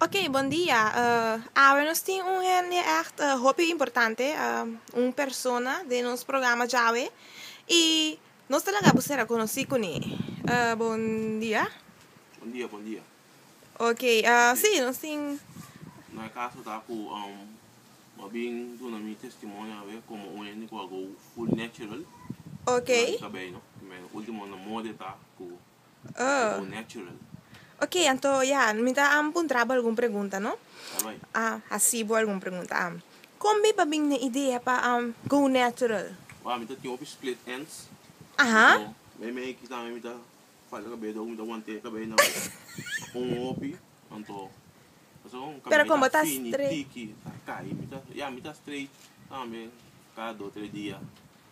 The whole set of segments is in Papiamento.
Ok bon dia awe nos tin un hende echt hopi importante un persona den nos programa djawe y nos ta laga bo ser a conoci cune bon dia. Bon dia bon dia. Ok si nos tin. Na e caso ta cu bo a bin duna mi testimonio awe como un hende cu a go full natural. Ok. Cu a bin cabello no ultimo na mode ta cu. Ok, anto ya, mi ta puntra bo algun pregunta no. A hasi bo algun pregunta. A Kon mi pa bini den idea pa go natural? Waw, mi ta tin hopi split ends. Aha. Mi me aki tambe mi ta falta cabello dor ku mi ta wanta e cabello nan un hopi. Anto pasobra mi cabello mi ta fini, tiki, ta kai. Mi ta, ya mi ta straight tambe cada dos tres dia.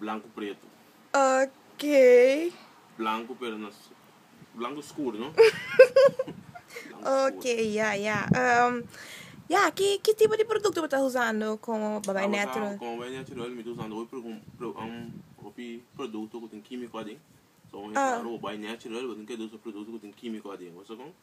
blanku pretu. Oké. Blanku pero no es blanku skuru no. Oké ya ya ehm ya ki ki tipo di produkto bo ta usando komo bo ta bai netural? Komo bai netural mi ta usando hopi hopi produkto ku tin kimiko aden so un hende ku ta hara bo bai netural bo tin ke usa produkto ku tin kimiko aden bo ta kos.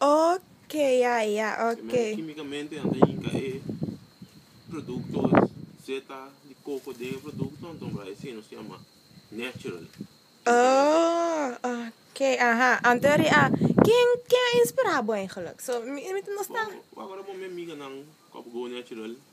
Ok ya ya ok. Semente kimikamente nan ta yinka e produkto seta di koko den e produkto anto nan bai hasi nos yama natural Oh ok aha anto eri a ken ken a inspira bo eigenlik so mi mi ta nos ta. Bo bo agorabomi amiga nan ku a por go natural.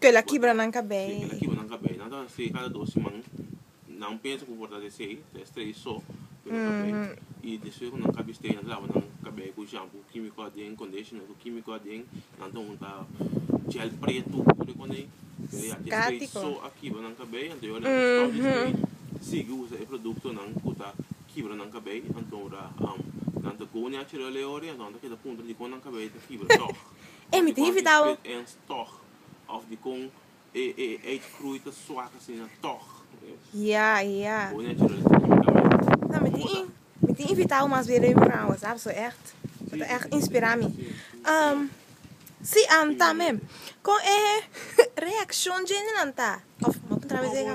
Kel a kibra nan kabei. Sí, kel a kibra nan kabei. Nan ta hasi esei kada dos siman. Nan pensa ku por ta hasi esei, ta estrei so ku nan kabei. I despues ku nan kabei estrei, nan ta laba nan kabei ku shampu kimiko aden, conditioner ku kimiko aden. Nan ta hunta gel pretu, tur e kosnan ei. Pero ya, te estrei so a kibra nan kabei, anto yo a laba stop di estrei, sigui usa e produktonan ku ta kibra nan kabei. Anto nan ta go neachurel e ora ei, anto nan ta keda puntra dikon nan kabei ta kibra tòg. E mi tin invitá bo. Ya, ya. No, mi tin in, mi tin invitá bo mas bien riba mi programa, bo sab, so ègt, bo ta ègt inspirá mi. Si, tambe, kon e reakshon djentenan ta? Òf bo a puntra mi esei ka?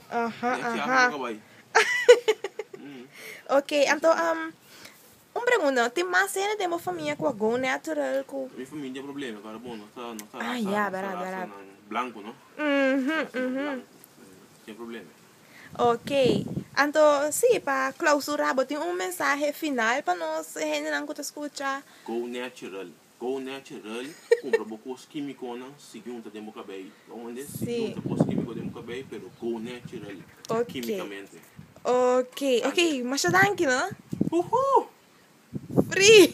Aha aha ok anto un pregunta tin mas hende den bo famia ku a go natural ku. Mi famia tin problema pero bon no ta no ta rasa no ta rasa nan blanco no tin problema ok anto si pa clausura bo tin un mensahe final pa nos hende nan ku ta scucha go natural. Go natural, cumpra bo cos quimiconan si junta den bo cabei. Lo mande si junta cos quimico den bo cabei pero go natural quimicamente. Ok, ok, masha danki no. Huhoo! Free!